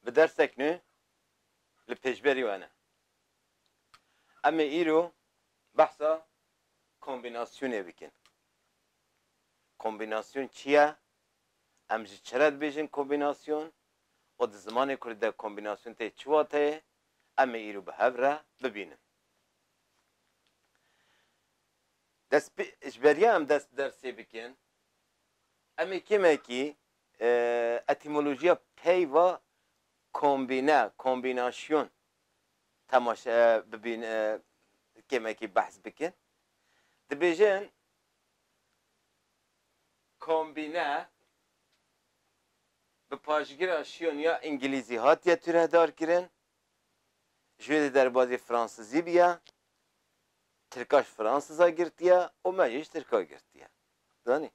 Bi dersek nû li pêşberî we ne. Em ê îro behsa kombînasyonê bikin. Kombînasyon çi ye? Em ji çi re dibêjin kombînasyon û di zimanê kurdî de kombînasyon tê çi wateyê? Em ê îro bi hev re bibînin. Destpê, ji beriya em dest bi dersê bikin, em ê kêmekî Etîmolojiya peyva kombîne, kombînasyon temaşe bibîn kêmekî behs bikin. Dibêjin kombîne bi paşgira şyon ya îngilîzî hatiye tûrehdar kirin. Ji wê de derbazê fransizî biya, tirkaş fransiza girtiye û me jî ji tirka girtiye. Zanî.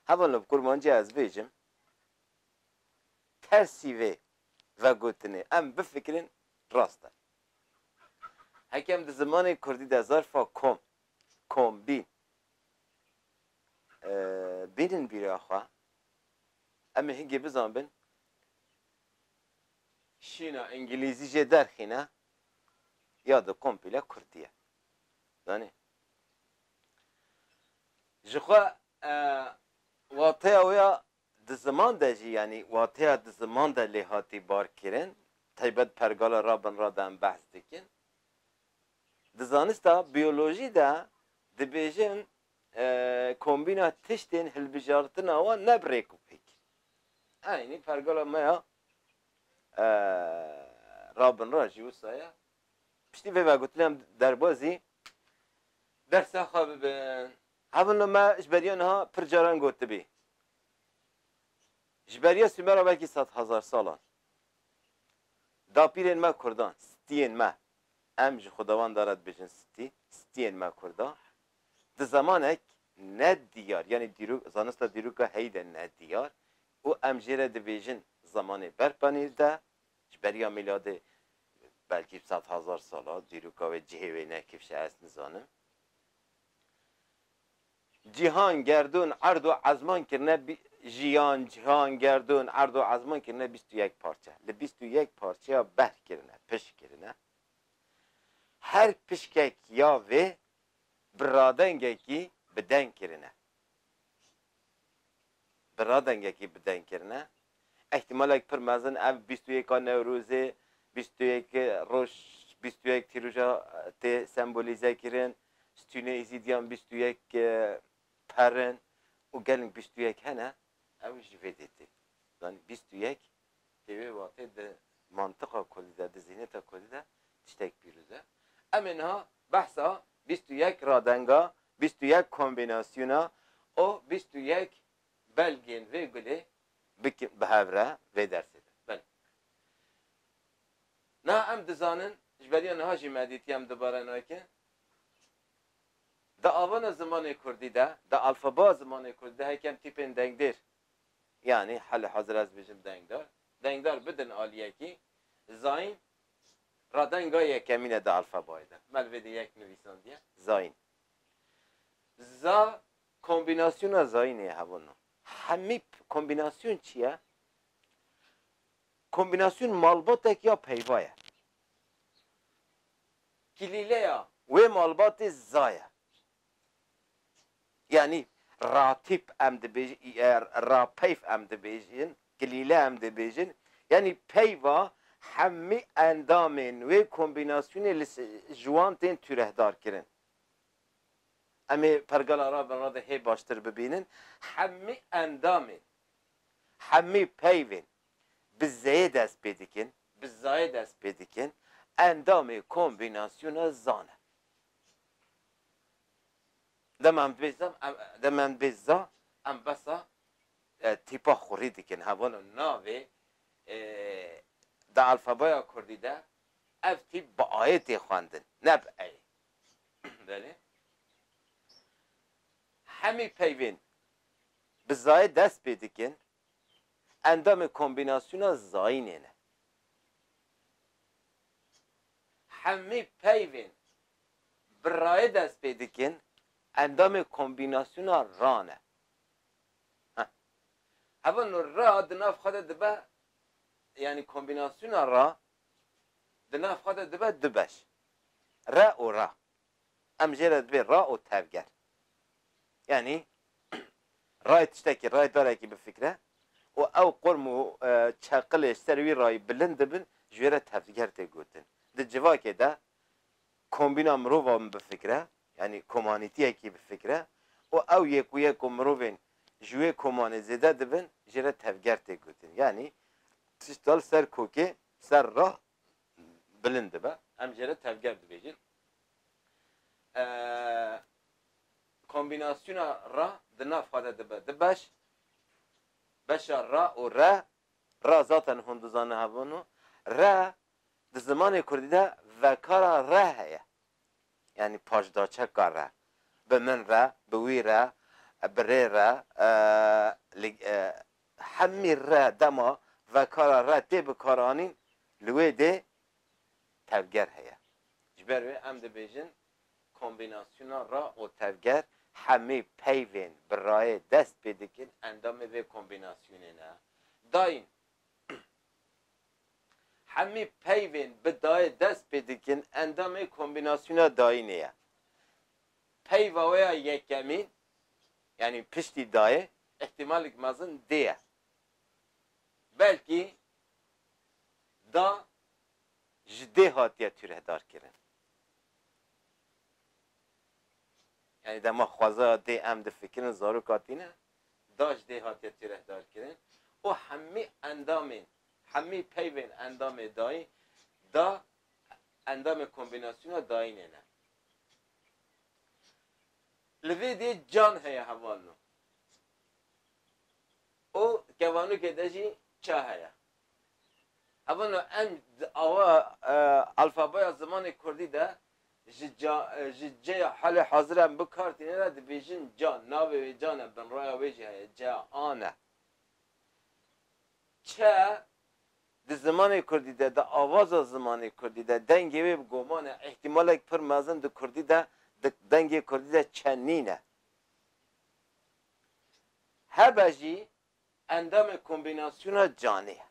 Hema li kurmancî ez bêjim tersî vê vegotinê em bifikirîn rast e. Heke em di zimanê kurdî de zarfa kom, kombîn bînin bîra xwe, em ê hingê bizanbin şîna îngilîzî jê derxîne ya di kompîle kurdî ye. Zanî. Jixwe wateya wê ya di ziman de jî yanî wateya di ziman de lê hatî barkirin, taybet pergala rabinra de em behs dikin. Di zanista biyolojî de dibêjin kombîna tiştên hilbijartina wan ne bi rêk û pêk. Eynî pergala me ya rabinra jî wisa ye. Piştî vê vegotinê em derbazî dersa xwe bibin. Hevno me ji beriya niha pir caran gotibî. Ji beriya Sumera belkî sed hezar salan dapîrên me kurdan, stiyên me, em ji xwedawanda re dibêjin stî, stiyên me kurda di zemanek ne diyar yanî dîrok zanista dîroka heyî de ne diyar û em jê re dibêjin zemanê berpanîr de Ji beriya mîladê belkî sed hezar sal a, dîroka wê cihê wê ne kifşe ez nizanim. Cîhan, gerdûn, erd û ezman kirine Jiyan, cihan, gerdûn, erd û ezman kirine bîst û yek parçe. Li bîst û yek parçeya behr kirine, pişk kirine. Her pişkek ya vê bi radengekî bi deng kirine. bi radengekî bi deng kirine. Îhtîmalek pir mezin ev bîst û yek a Newrozê, bîst û yek roj, bîst û yek tîroja tê sembolîze kirin, stûnê Îzîdiyan bîst û yek per in û gelink bîst û yek hene. Ew jî vê dê tê zanîn bîst û yek Di vê watê di mantiqa kurdî de, di zîhneta kurdî de tiştek pîroz e. Em ê niha behsa bîst û yek radenga, bîst û yek kombînasyona û bîst û yek belgên vê gulê bikin bi hev re vê dersê de. Belê. Niha em dizanin, ji beriya niha jî me dîtiye em dubare nakin, di avana zimanê kurdî de, di alfabaya zimanê kurdî de hekem tîpên dengdêr Yanî hali hezir ez bijim dengdar, dengdar bidin aliyekî zayîn ra denga yekemîne di alfabayê de melvê de yek nivîsandiye zayîn. Za kombînasyona zayînê ye hebûn. Hemîp kombînasyon çi ye? Kombînasyon malbatek ya peyva ye. Kilîleya wê malbatê za ye. Yanî ratîp em dibêjin, rapeyv em dibêjin, kilîle em dibêjin, yanî peyva hemî endamên wê kombînasyonê li ji wan tên tûrehdarkirin. Em ê pergala raberna de hê baştir bibînin, hemî endamên, hemî peyvên bi zeyê dest pê dikin, bi zayê dest pê dikin, endamê kombînasyona zan e. Dema em dibê za dema em dibê za em besa tîpa xurî dikin hevano navê di alfabeya kurdî de ev tîp bi ayê tê xwendin ne bi eyê. Belê. Hemî peyvên bi zayê dest pê dikin endamê kombînasyona zayînê ne. Hemî peyvên Bi rayê dest pê dikin, endamê kombînasyona ra ne. Ha. Heva no ra di nav xwe de dibe, yanî kombînasyona ra di nav xwe de dibe du beş, re û ra. Em jê re dibê ra û tevger. Yanî rayê tiştekî, rayê darekî bifikre û ew qurm û çeqilê ji ser wî rayî bilind dibin, ji wê re tevger tê gotin. Di civakê de kombîna mirova min bifikire, yanî komanîtiyekî bifikire û ew yek û yek ku mirovên ji wê komanê zêde dibin jê re tevger tê gotin. Yanî tişta li ser kokê ser re bilind dibe. Em jê re tevger dibêjin. Kombînasyona re di nav xwe de dibe du beş. Beşa re û re, re zaten hûn dizane hev in û re Di zimanê kurdî de vekara re heye. Yanî paşdaçeka re. Bi min re, bi wî re, bi rê re, li hemî re dema vekara re tê bikaranîn li wê dê tevger heye. Ji ber wê em dibêjin kombînasyona ra û tevger hemî peyvên bi rayê dest pê dikin endamê vê kombînasyonê ne. Dayîn. Hemî peyvên bi dayê dest pê dikin endamê kombînasyona dayînê ye. Peyva wê ya yekemî, yanî piştî dayê, îhtîmalek mezin dê ye. Belkî da ji dê hatiye tûrehdarkirin. Yanî dema xwezaya dê em difikirin zaroka tîne, daş dê hatiye tîrehdarkirin û hemî endamên hemî peyvên endamê dayî da endamê kombînasyona dayînê ne. Li vê dê can heye hevalno û kevanokê de jî ça heye. Hevalno em di awa alfabaya zimanê kurdî de ji ca ji ceya halê hazir em bi kar tîne re dibêjin ca, navê wê ca ne, binraya wê jî heye, ceya a ne. Çe di zimanê kurdî de, di avaza zimanê kurdî de dengê wê bi goman e, îhtîmalek pir mezin di kurdî de, di dengê kurdî de çe nîne. Hebe jî Endamê kombînasyona canê ye.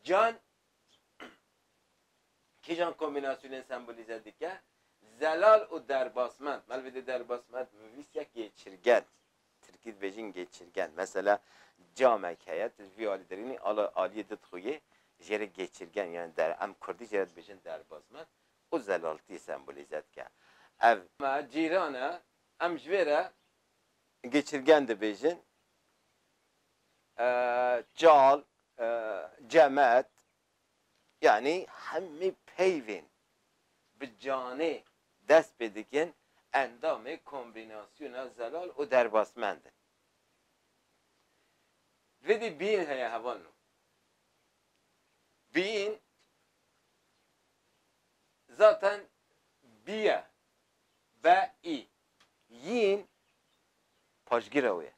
Can kîjan kombînasyonên sembolîze dike? Zelal û derbasmend. Mel vêde derbasmend bi vîst ye gêçirgen. Tirkî dibêjin gêçirgen. Mesela camek heye, tu ji vî alî derînî, aliyê di dixuyê, jê re gêçirgen yanî der. Em kurdî jê re dibêjin derbasmend û zelaltiyê sembolîze dike. Ev. Me cîran e. Em ji vê re geçirgen dibêjin, çal, cemet yanî hemî peyvên bi canê dest pê dikin endamê kombînasyona zelal û derbasmend in. Vidî bîn heye heval no. Bîn zaten bî ye, be, î Yîn paşgîra wê ye.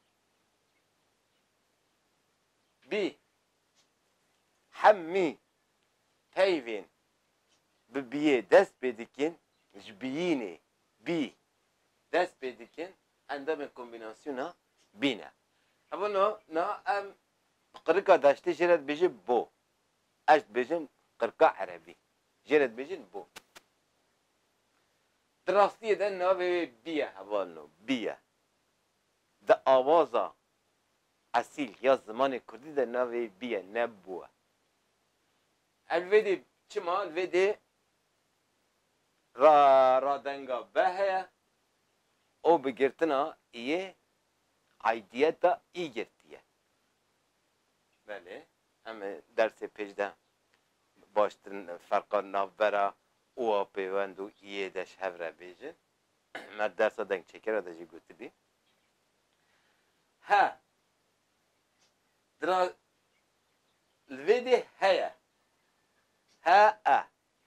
Bî hemî peyvên bi bîyê dest pê dikin, ji bîyînê bî dest pê dikin, endamê kombînasyona bî ne. Hevon o na em bi qirika daştê jê re dibêjin bo. Ez dibêjin qirika erebî. Jê re dibêjin bo. Di rastiyê de navê wê Biye hevalin û Biye. Di awaza esîl ya zimanê kurdî de navê wê Biye ne Bue. Ev vê dê çima li vê dê ra radenga be heye û bi girtina iyê aidiyeta î girtiye. Belê em ê dersê pêş de baştir ferqa navbera û a pêwend û iyê de ji hev re bêjin. Me di dersa dengçêkera de jî gotibî. He, dira li vê dê heye. He, e,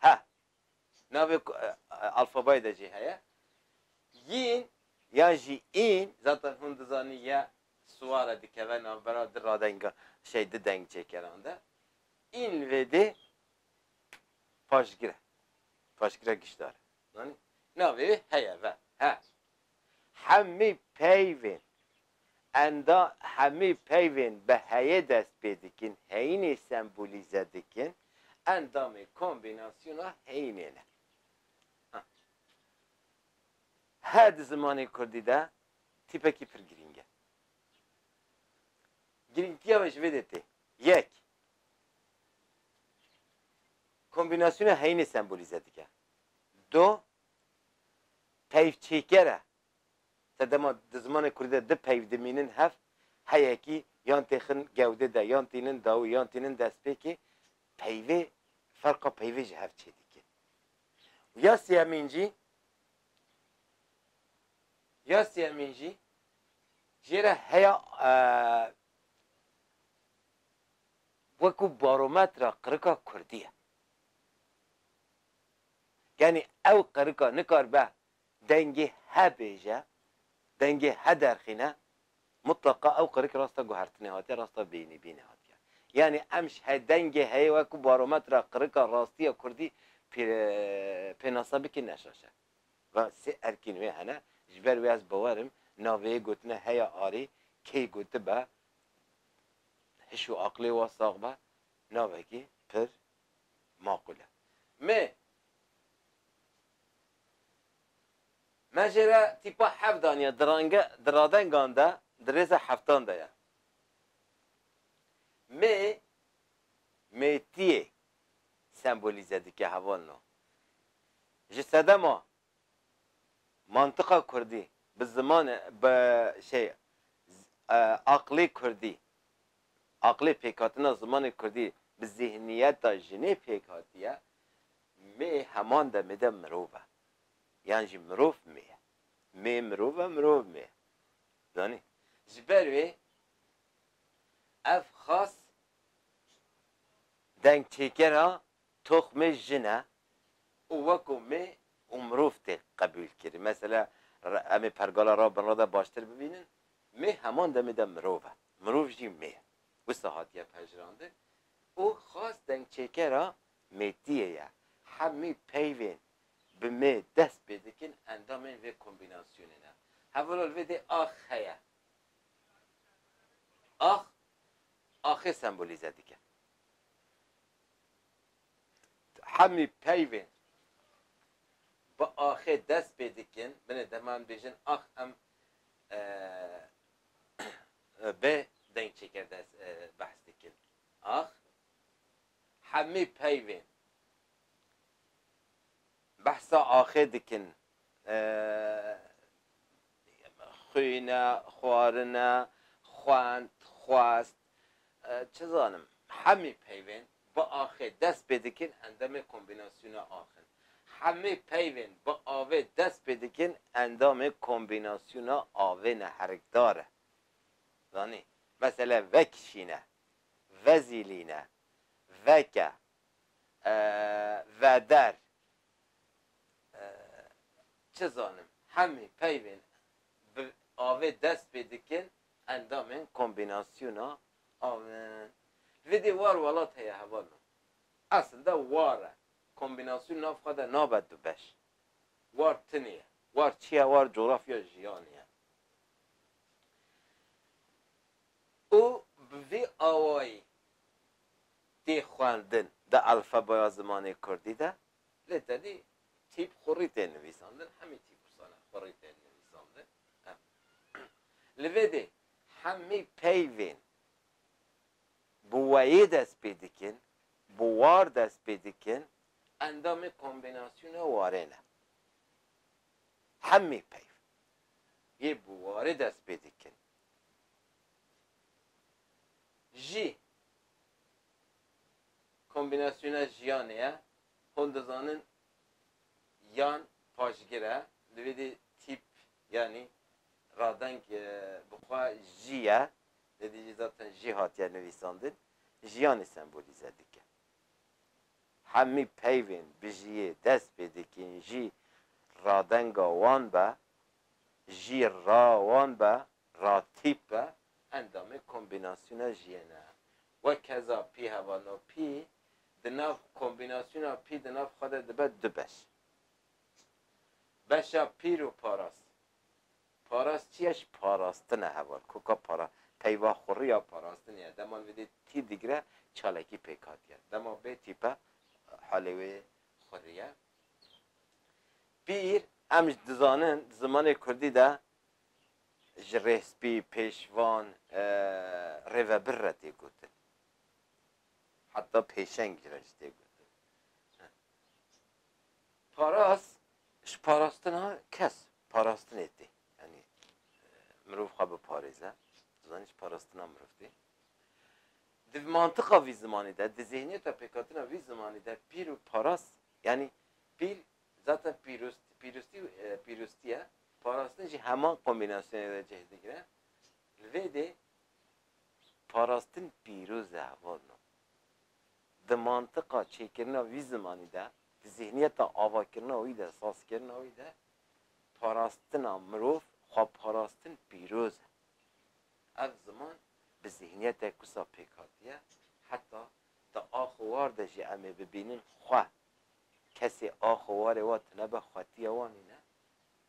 he. Navê alfabayê de jî heye. Yîn yan jî în, zaten hûn dizanîn ye siwar e dikeve navbera di radenga, şey di dengçêkeran de. În li vê dê Paşgir e. Paşgir e gişdar e. Zanî? Navê wê heye ve. He. Hemî peyvên enda hemî peyvên bi heyê dest pê dikin, heyînê sembolîze dikin, endamê kombînasyona heyînê ne. Ha. He di zimanê kurdî de tîpekî pir girîng e. Girîngtiya wê ji vê de tê. Yek, Kombînasyona heyînê sembolîze dike. Do peyvçêker e. Sedema di zimanê kurdî de du peyv dimînin hev, heyekî yan têxin gewdê de yan tînin dawî yan tînin destpêkê, peyvê ferqa peyvê ji hev çê dike. Û ya sêyemîn jî ya sêyemîn jî jê re heya wekû barometra qirika kurdî ye. Yanî ew qirika nikaribe dengê he bêje, dengê he derxîne, mutleqa ew qirik rasta guhertinê hatiye, rasta bêyînîbînê hatiye. Yanî em ji he dengê heyê wekû barometra qirika rastiya kurdî pênasa bikin ne şaş e. Va sê erkîn wê hene, ji ber wê ez bawer im navê yê gotine heya arê key gotibe hiş û aqlê wan sax be navekî pir maqûl e. Me me jê re tîpa heft daniye di range di radengan de di rêza heftan de ye. Me mêtiyê sembolîze dike hevalno. Ji sedema Mantiqa kurdî bi zimanê bi şey aqlê kurdî, aqlê pêkhatina zimanê kurdî bi zîhniyeta jinê pêk hatiye, mê heman demê de mirov e. Yan jî mirov mê ye. Mê mirov e, mirov mê ye. Zanî? Ji ber wê ev xas dengçêkera Toxmê jin e û weko me û mirov tê qebûlkirin. Mesela em ê pergala ra bin ra de baştir bibînin, me heman demê de mirov e. Mirov jî me ye. Wisa hatiye pejirandin û xas dengçêkera mêtiyê ye. Hemî peyvên bi me dest pê dikin endamên vê kombînasyonê ne. Hevalo li vê dê ax heye. Ax, axê sembolîze dike. Hemî peyvên bi axê dest pê dikin, binê deman bêjin ax em bê deng çêker des behs dikin. Ax hemî peyvên behsa axê dikin, xwîne, xwarine, xwend, xwest, Çi zanim, hemî peyvên bi axê dest pê dikin endemê kombînasyona ax in. Hemî peyvên bi avê dest pê dikin endamê kombînasyona avê ne herikdar e. Zanî, mesela vekişîne, vezîlîne, veke, veder. Çi zanim, hemî peyvên bi avê dest pê dikin Endamên kombînasyona av in. Li vê dê war welat heye heval min. Esil de war e. Kombînasyon nav xwe de nabe du beş. War tinê ye. War çi ye? War cografya jiyanê ye. Û bi vî awayî tê xwendin di elfebeya zimanê kurdî de. Lê tedî tîp xurî tên nivîsandin. Hemî tîp wisa ne xurî tên nivîsandin. Li vê de hemî peyvên bi weyê dest pê dikin, bi war dest pê dikin, endamê kombînasyona warê ne. Hemî peyv yê bi warê dest pê dikin jî kombînasyona jiyanê ye, hûn dizanin yan paşgir e, li vê de tîp Yanî radeng bi xwe jî ye, lê dijî zaten jî hatiye nivîsandin, jiyanê sembolîze dike. Hemî peyvên bijîyê dest pê dikin jî radenga wan be, jî ra wan be, ra tîp be, endamê kombînasyona jîyê ne. Wekeza pî hevano pî, di nav kombînasyona pî di nav xwe de dibe du beş. Beşa pîr û parast. Parast çi ye? Ji parastin e heval. Ku ka para, peyva xurî ya parastinê ye. Dema li vêdê tîr digire, çalekî pêk hatiye. Dema bê tîpe, halê wê xurî ye. Pîr, em ji dizanin di zimanê kurdî de ji rêspî, pêşvan, rêvebir re tê gotin. Heta pêşeng ji re jî tê gotin. Paraz, ji parastina kes, parastinê tê. Yanî mirov xwe biparêze. Tu zanî ji parastina mirov tê. Di mantiqa vî zimanî de, di zêhniyeta pêkhatina vî zimanî de pîl û paraz yanî pîl zaten pîrost, pîrostî û pîrostî ye. Parastin jî heman kombînasyonê de cih digire. Li vê dê parastin pîroz e hevalino. di mantiqa çêkirina wî zimanî de, di zîhniyeta avakirina wî de, sazkirina wî de parastina mirov, xweparastin pîroz e. Ev ziman bi zîhniyetek wisa pêk hatiye, heta di axowar de jî em ê bibînin xwe, kesê axowarê wa tune be xwetiya wan nîne,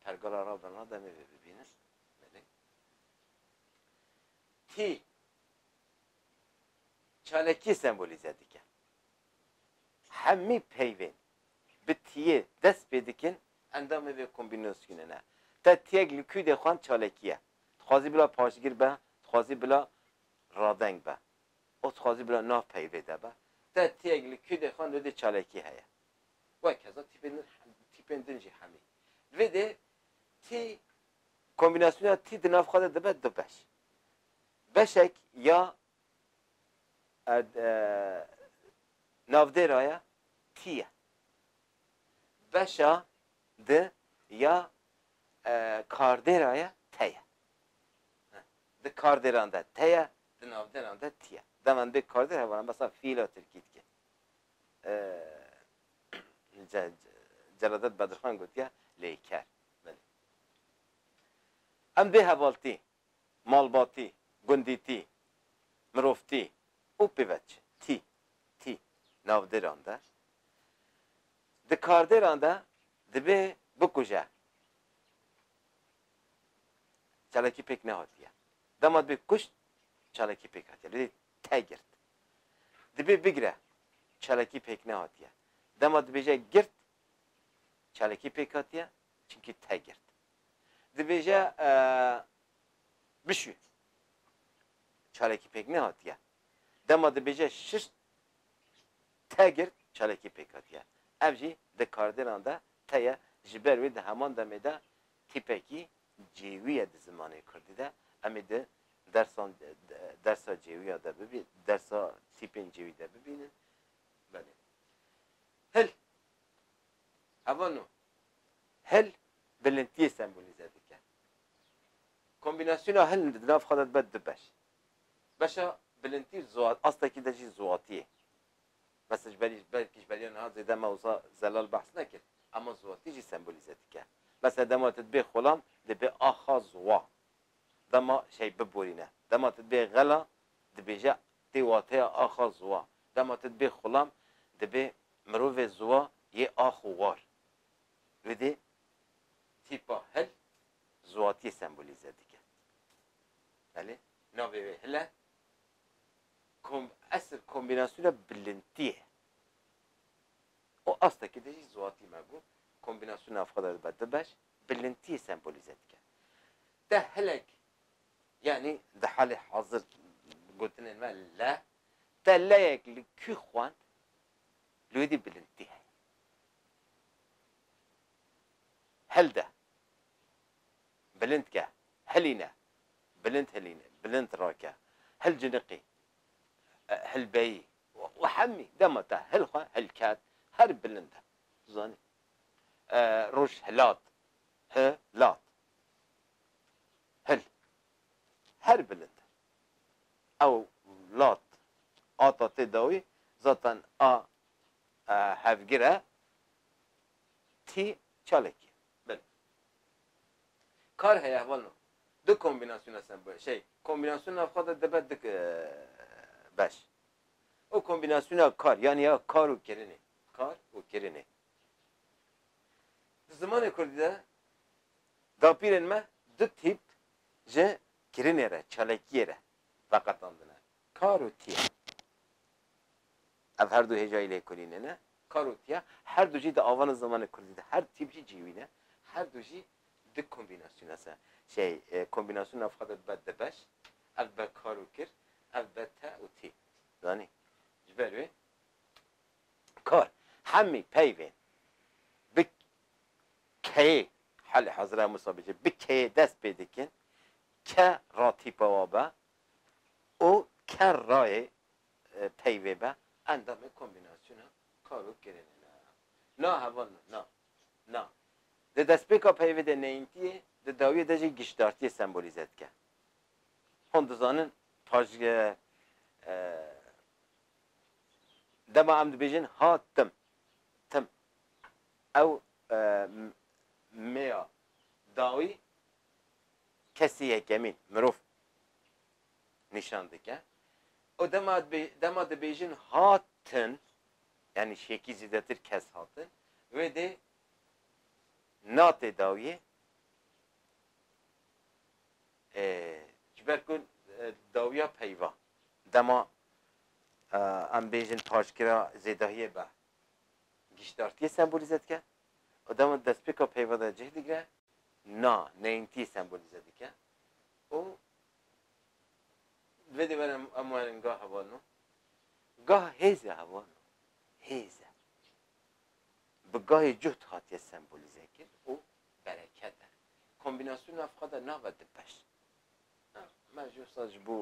pergala Rabirna de em ê vê bibînin, belê. Tî Çalakî sembolîze dike. Hemî peyvên bi tiyê dest pê dikin endamê vê kombînasyonê ne. Te tiyek li kû dê xwend çalakî ye. Dixwazî bila paşgir be, dixwazî bila radeng be û dixwazî bila nav peyvê de be. Te tiyek li kû dê xwend li dê çalakî heye. Wek heza tîpên din tîpên din jî hemî. Li vê dê tî kombînasyona tî di nav xwe de dibe du beş. Beşek ya navdêraya kî ye? Beşa di ya kardêraya te ye. Di kardêran de te ye, di navdêran de tî ye. Dema em bê kardêr hevala mesela fiîla tirkî dike. Celadet Bedirxan gotiye lêker. Belê. Em bê hevaltî malbatî, gundîtî, mirovtî û pîvecî, tî, tî, navdêran de, di kardêran de dibê bikuje. Çalakî pêk nehatiye. Dema dibê kuşt, çalakî pêk hatiye. Li dê te girt. Dibê bigire, çalakî pêk nehatiye. Dema dibêje girt, çalakî pêk hatiye, çimkî te girt. Dibêje bişû. Çalekî pêk nehatiye. Dema dibêje şir te girt çalekî pêk hatiye. Ev jî di kardêlan de teye ji ber wê di heman demê de tîpekî cêwî ye di zimanê kurdî de. Em ê di dersan dersa cêwîya de bibî dersa tîpên cêwî de bibînin. Belê. Hil Hevano hil bilintiyê sembolîze dike. Kombînasyona hil di nav xwe de dibe du beş. Beşa bilintî astekî de jî ziwatî ye. Mesela ji berî belkî ji beriya niha zêde me wisa zelal behs nekir. Ema ziwatî jî sembolîze dike. Mesela dema tu dibê xolam dibê axa ziwa. Dema şey biborîne. Dema tu dibê xela dibêje tê wateya axa ziwa. Dema tu dibê xolam dibê Mirovê ziwa yê ax û war. Dûdê tîpa hil ziwatiyê sembolîze dike. Belê navê wê hil e. Kom esil kombînasyona bilintî ye. Û astekî de jî ziwatî me got kombînasyona ev xwe de dibe du beş, bilintiyê sembolîze dike. Te hilek yanî di halê hazir gotinên me le Teleyek li kû xwend li wê dî bilindtî heye. Hel de. Bilind ke. Helîne. Bilind hilîne. Bilind rake. Hil ciniqî. Hilbeyî. Û hemî dema te hil xwe hil ket her bilind e. Tu zanî. Roj hilat. Hi lat. Hil. Her bilind e. Ew lat ata tê dawî zaten a hevgir e tî çalekî ye. Belê. Kar heye heval no. Du kombînasyona sembolê şey kombînasyona navxwe de dibe du beş. O kombînasyona kar yanî ya kar û kirinê. Kar û kirinê. Di zimanê kurdî de dapîrên me du tîp ji Kirinê re, çalakiyê re veqetandine. Kar û tiya. Ev her du hêjayî lêkolînê ne. Kar û tiya her du jî di avana zimanê kurdî de her tîp jî cîwîn e. Her du jî di kombînasyona se şey kombînasyon nav xwe de dibe di beş. Ev dibe kar û kir, ev dibe te û tî. Zanî? Ji ber wê kar hemî peyvên bi Keyê Helî Hezra Mûsa bije bi keyê dest pê dikin, ke ra tîpa wa be û ke rayê peyvê be endamê kombînasyona kar û kirinê ne. Na heval na, na, na. Di destpêka peyvê de neyntiyê, di dawiyê de jî giştdartiyê sembolîze dike. Hûn dizanin paj dema em dibêjin ha tim, tim. Ew mêya dawî kesî yekemîn mirov nîşan dike û dema dema dibêjin hatin yanî şêkî zîdetir kes hatin wê dê natê dawiyê ji ber ku dawiya peyva dema em bêjin paşgira zêdahiyê be Giştdartiyê sembolîze dike û dema destpêka peyva de cih digre na, neyntî, sembolîze dike û di vê dêvaran em werin gah heval no, gah hêz e heval no, hêz e. Bi gahê cuhd hatiye sembolîze kir û bereket e. Kombînasyona ev xwe de nabe di beş. Na, me ji wisa ji bo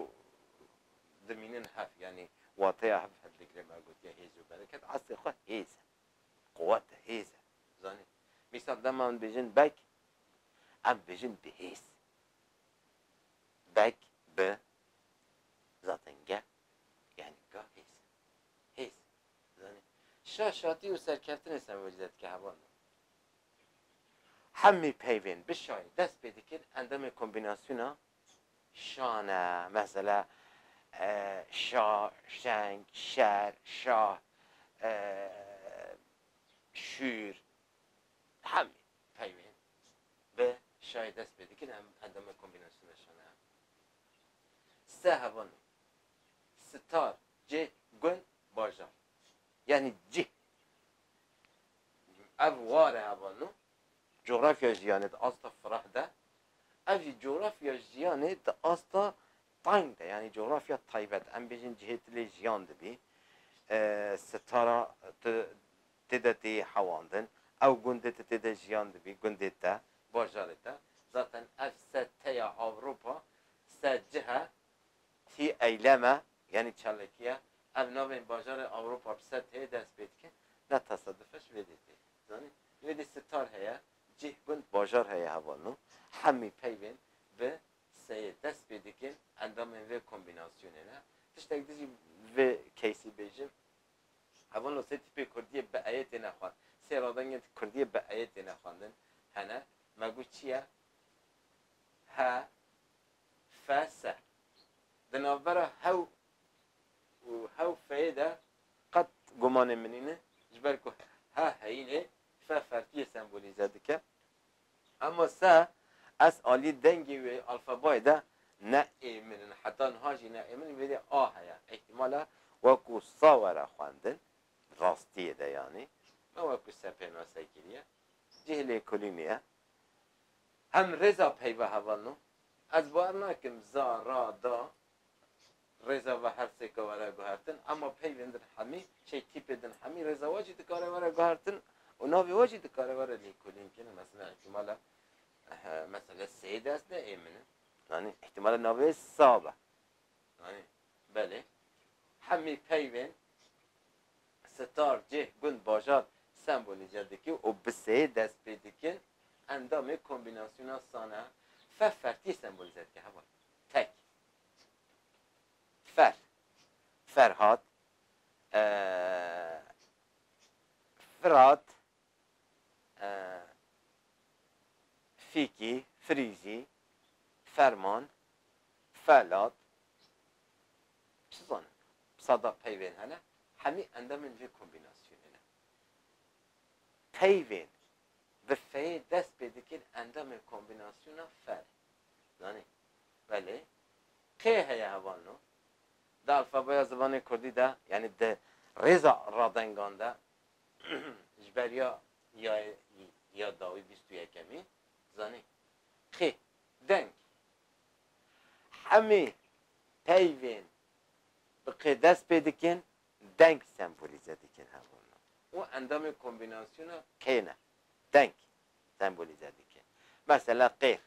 dimînin hev, yanî wateya hev hildigirin, me gotiye hêz û bereket, eslê xwe hêz e, quwet e, hêz e, zanî. Mîsal dema min bêjin beg, em dibêjin bi hêz. Beg, bi, zaten ge, yanî ga hêz e, hêz, zanî. Şa, şatî û serkeftinê sembolîze dike heval min. Hemî peyvên bi şayî dest pê dikin endamê kombînasyona şan e. Mesela şa, şeng, şer, şah, şûr. Hemî peyvên bi şayî dest pê dikin endamê kombînasyona şan e. Sta hevalên star, cih, gund, bajar yanî cih. Ev ware heva nû Coğrafya jiyanê di asta fireh de, ev jî Coğrafya jiyanê di asta tayng de yanî Coğrafya taybet em bêjin cihê tu lê jiyan dibî, sitara tu tê de tê hewandin, ew gundê tu tê de jiyan dibî, gundê te, bajarê te, zaten ev se teya Avropa se cih e Tî eyleme yanî çalekiya ev navên bajarê Ewropa bi ser tê dest pê dike ne tesadufeş vê dê tê zanîn. Vê dê sitar heye, cih, gund, bajar heye heval nû hemî peyvên bi seyê dest pê dikin endamên vê kombînasyonê ne. Tiştek di jî li vê keysî bêjim heval nû sê tîpê kurdiyê bi eyê têne xwend sê radengên kurdiyê bi eyê têne xwendin hene me got çi ye he FS, Di navbera hew û hewfeyê de qet gumanê min nîne, ji ber ku he heyînê fe fertiyê sembolîze dike. Hema se S aliyê dengê wê alfabayê de ne ê min in, heta niha jî ne ê min in, vêrê a heye, îhtîmal e wekû sa were xwendin, rastiyê de yanî, ne wekû se pênase kiriye, cih lêkolînê ye. Hem rêza peyva heval no. Ez bawer nakim za, ra, da rêza ve her sê ke were guhertin ema peyvên din hemî, çey tîpê din hemî rêza we jî dikare were guhertin û navê we jî dikare were lêkolîn kirin. Mesela îhtîmala mesela Seyê dest de ê min e. Zanî? Îhtîmala navê wê Sa be. Zanî? Belê. Hemî peyvên. star, cih, gund, bajar, sembolize dikin û bi seyê dest pê dikin, endamê kombînasyona san e, fe fertiyê sembolize dike, heval, tek, fer, Ferhat, Firat, Fîkî, Firîzî, Ferman, Felat, Çi zanin, sada peyvên hene, hemî endemên vê kombînasyonê ne. Peyvên bi feyê dest pê dikin endemên kombînasyona fe ne. Zanî? Belê. Kê heye heval no? Di alfabeya zibanê kurdî de, yanî di rêza radengan de ji ber ya yayê ya dawî bîst û yekemî, zanî? Kê, deng. Hemî peyvên bi qê dest pê dikin deng sembolîze dikin hebûna û endamê kombînasyona qê ne. Deng sembolîze dikin. Mesela qêr,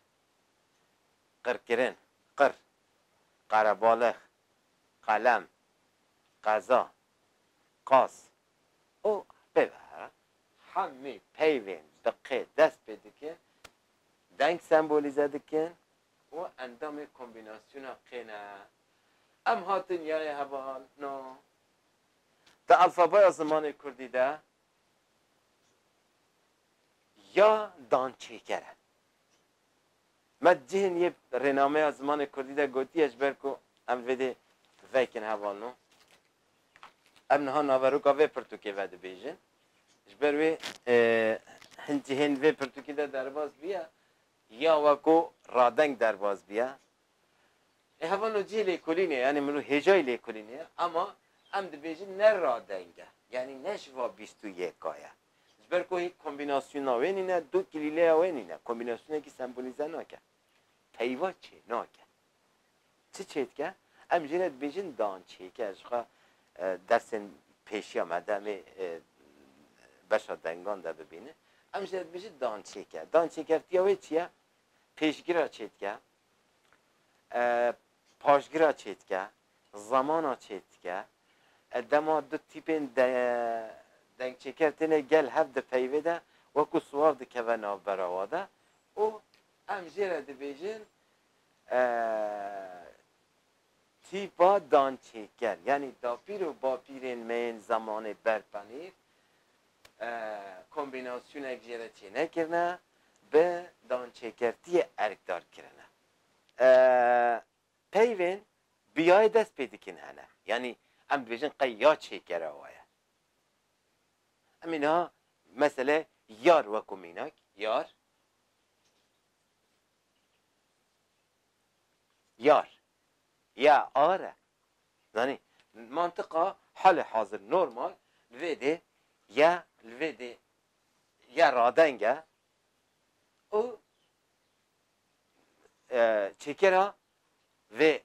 qirkirin, qir, qarebalix, qelem, qeza, qas û pê ve here. Hemî peyvên bi qê dest pê dikin deng sembolîze dikin Û endamê kombînasyona qê ne. Em hatin ya yê heval no. Di alfabeya zimanê kurdî de ya dançêker e. Me di cihên yê rênameya zimanê kurdî de gotiye ji ber ku em vê dê veykin heval no. Em niha naveroka vê pirtûkê vedibêjin. Ji ber wê hin cihên vê pirtûkî de derbas bûye Ya we ku radeng derbas biya. Lê hevano cihê lêkolînê yanî min û hêjayî lêkolînê ye ama em dibêjin ne radeng e yanî ne ji va bîst û yeka ye. Ji ber ku hê kombînasyona wê nîne, du kilîleya wê nîne, kombînasyonekî sembolîze nake. Peyva çênake. Çi çêdike? Em jî ne dibêjin dan çêke jixwe dersên pêşiya me de em ê beşa dengan de bibînin. Em jî ne dibêjin dan çêke. Dan çêkertiya wê çi ye? Pêşgira çêdike, paşgira çêdike, zamana çêdike. Dema du tîpên deng çêker têne gel hev di peyvê de wekû siwav dikeve navbera we de û em jê re dibêjin tîpa dançêker yanî dapîr û bapîrên me yên zemanê ber tenîr kombînasyonek jê re çênekirine bi dançêkertiyê erkdar kirine. Peyvên bi yayê dest pê dikin hene yanî em dibêjin qey ya çêkera wa ye. Em ê niha mesele yar weko mînak yar Yar. Ya ar e. Zanî? Mantiqa halê hazir normal li vê dê ya li vê dê ya radeng e û çêkera vê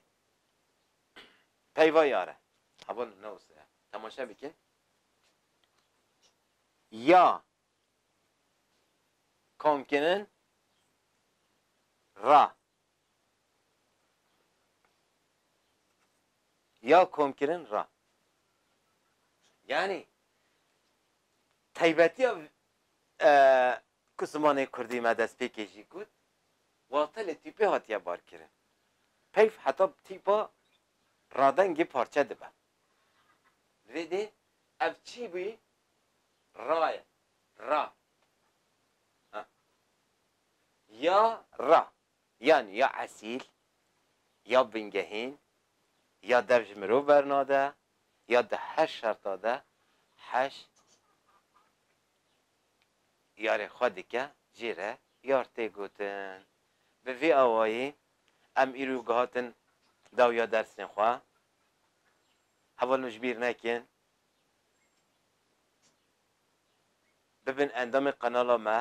peyva yar e. Habo li navê se ye. Temaşe bikin. Ya komkinin ra ya komkinin ra. Yani taybetiya e, ku zimanê Kurdî me destpêkê jî got, wata li tîpê hatiye barkirin. Peyv heta tîpa radengê parçe dibe. Li vê dê ev çî bûyî Ra ye. Ra. Ha. Ya ra. Yanî ya esîl, ya bingehîn, ya dev ji mirov bernade, ya di her şerta de heş yarê xwe dike jê re yar tê gotin. Bi vê awayî em îro gihatin dawya dersên xwe. Hevalno ji bîr nekin Bibin endamê qenala me,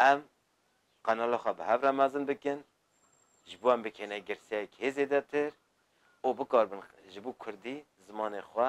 em qenala xwe bi hev re mezin bikin, ji bo em bikêne girseyek hê zêdetir û bikaribin ji bo kurdî zimanê xwe